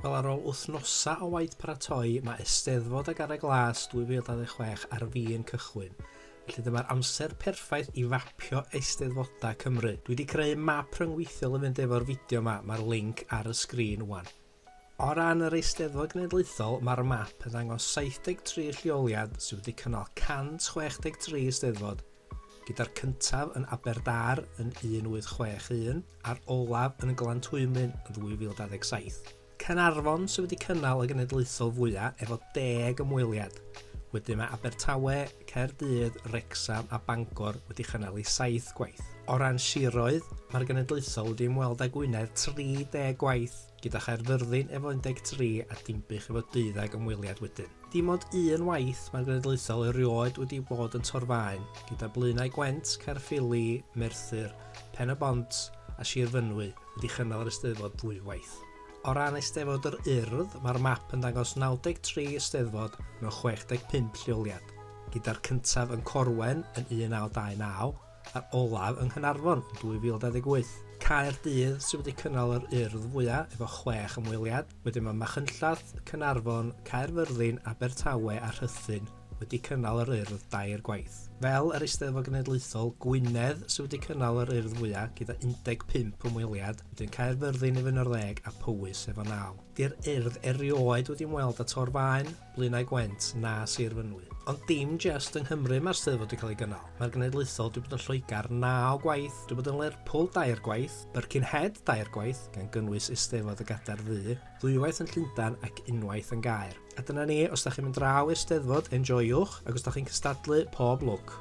Wel, ar ôl wythnosau o waith paratoi, mae Eisteddfod a Garreg Las 2026 ar fin cychwyn. Felly dyma'r amser perffaith i fapio Eisteddfodau Cymru. Dwi wedi creu map rhyngweithiol yn fynd efo'r fideo yma, mae'r linc ar y sgrin wan. O ran yr Eisteddfod Genedlaethol, mae'r map yn dangos 73 lleoliad sydd wedi cynnal 163 Eisteddfod, gyda'r cyntaf yn Aberdâr yn 1861 a'r olaf yn Glantwymyn yn 2027. Caernarfon sydd wedi cynnal y genedlaethol fwyaf efo deg ymweliad. Wedyn mae Abertawe, Caerdydd, Wrecsam a Bangor wedi chynnal ei saith gwaith. O ran siroedd, mae'r genedlaethol wedi ymweld â Gwynedd 30 gwaith, gyda Chaerfyrddin efo 13 a Dinbych efo 12 ymweliad wedyn. Dim ond un waith mae'r genedlaethol erioed wedi bod yn torfaen, gyda Blaenau Gwent, Caerffili, Merthyr, Pen-y-bont a Sir Fynwy wedi chynnal yr Eisteddfod ddwywaith. O ran Eisteddfod yr Urdd, mae'r map yn dangos 93 Eisteddfod mewn 65 lleoliad, gyda'r cyntaf yn Corwen yn 1929, a'r olaf yng Nghanarfon yn 2028. Caerdydd sydd wedi cynnal yr Urdd fwyaf efo chwech ymweliad, wedyn mae Machynlleth, Caernarfon, Caerfyrddin, Abertawe a Rhuthun wedi cynnal yr Urdd dair gwaith. Fel yr Eisteddfod Genedlaethol, Gwynedd sydd wedi cynnal yr Urdd fwyaf gyda 15 ymweliad, wedyn Caerfyrddin efo 11 a Powys efo naw. Di'r Urdd erioed wedi ymweld â Tor Faen. Blaenau Gwent na Sir Fynwy. Ond dim jest yng Nghymru mae'r Steddfod wedi cael ei gynnal. Mae'r genedlaethol wedi bod yn Lloegr naw gwaith, wedi bod yn Lerpwl dair gwaith, Birkenhead dair gwaith, gan gynnwys Eisteddfod y Gadair Ddu, ddwywaith yn Llundain ac unwaith yn Gaer. A dyna ni, os da chi'n mynd draw i'r Steddfod, enjoywch, ac os da chi'n cystadlu, pob lwc!